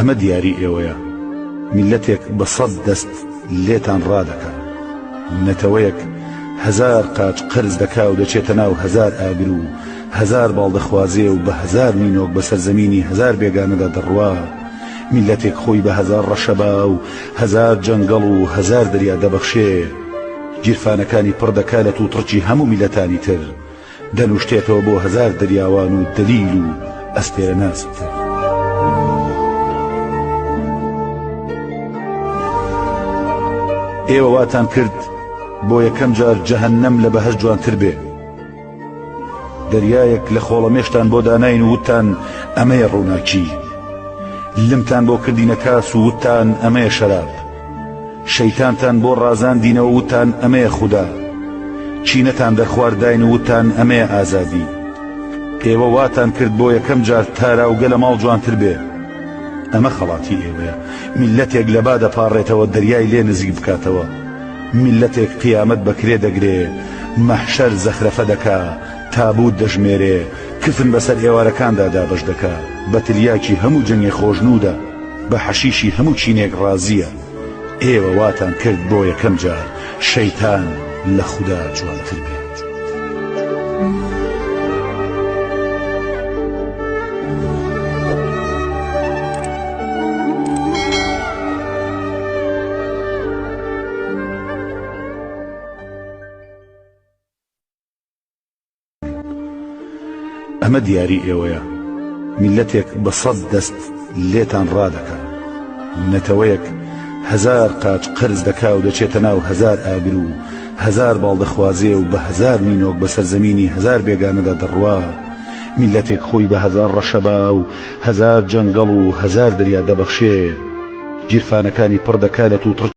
ئەمە دیاری ئێوەیە میلەتێک بە سەد دەست لێتان ڕادەکە نەتەوەیەک هزار قاچ قرز دەکا و دەچێتە ناو هزار ئاگر و هزار باڵدەخوازێ و بە هزار نینۆک بە سەرزەمینی هزار بێگانەدا دەڕوا میلەتێک خۆی بە هزار ڕەشەبا و هزار جەنگەڵ و هزار دەریا دەبەخشێ گیرفانەکانی پڕ دەکا لە تووتڕکی هەموو میلەتانی تر دەلوشتێتەوە بۆ هەزار دەریاوان و دەلیل و ئەستێرەناسی تر. ئێوە واتان کرد بۆ یەکەم جار جەهەنەم لە بەهەش جوانتر بێ دەریایەک لە خۆڵەمێشتان بۆ داناین وتان ئەمەیە ڕووناکی لمتان بۆ کردینە کاس و وتان ئەمەیە شەراب شەیتانتان بۆ ڕازاندینەوە وتان ئەمەیە خودا، چینەتان دەرخوارد داین و وتان ئەمەیە ئازادی. ئێوە واتان کرد بۆ یەکەم جار تاراوگە لە ماڵ جوانتر بێ. ئەمە خەڵاتی ئێوەیە، میللەتێک لە با دەپاڕێتەوە دەریای لێ نزیک بکاتەوە. میللەتێک قیامەت بە کرێ دەگرێ، مەحشەر زەخرەفە دەکا، تابوت دەژمێرێ کفن بەسەر ئێوارەکاندا دابەش دەکا بە تلیاکی هەموو جنێ خۆشنودا بە حەشیشی هەموو چینێک ڕازیە ئێوە واتان کرد بۆ یەکەم جار شەیتان لە خودا جوانتر بێ. ئەمە دیاری ئێوەیە میلەتێک بە سەد دەست لێتان ڕادەکە نەتەوەیەک هزار قاچ قرز دەکا و دەچێتە ناو هزار ئاگر و هزار باڵدەخوازێ و بە هزار نینۆک بە سەرزەمینی هزار بێگانەدا دەڕوا میلەتێک خۆی بە هزار ڕەشەبا و هزار جەنگەڵ و هزار دریا دەبەخشێ گیرفانەکانی پڕ دەکا لە توتڕ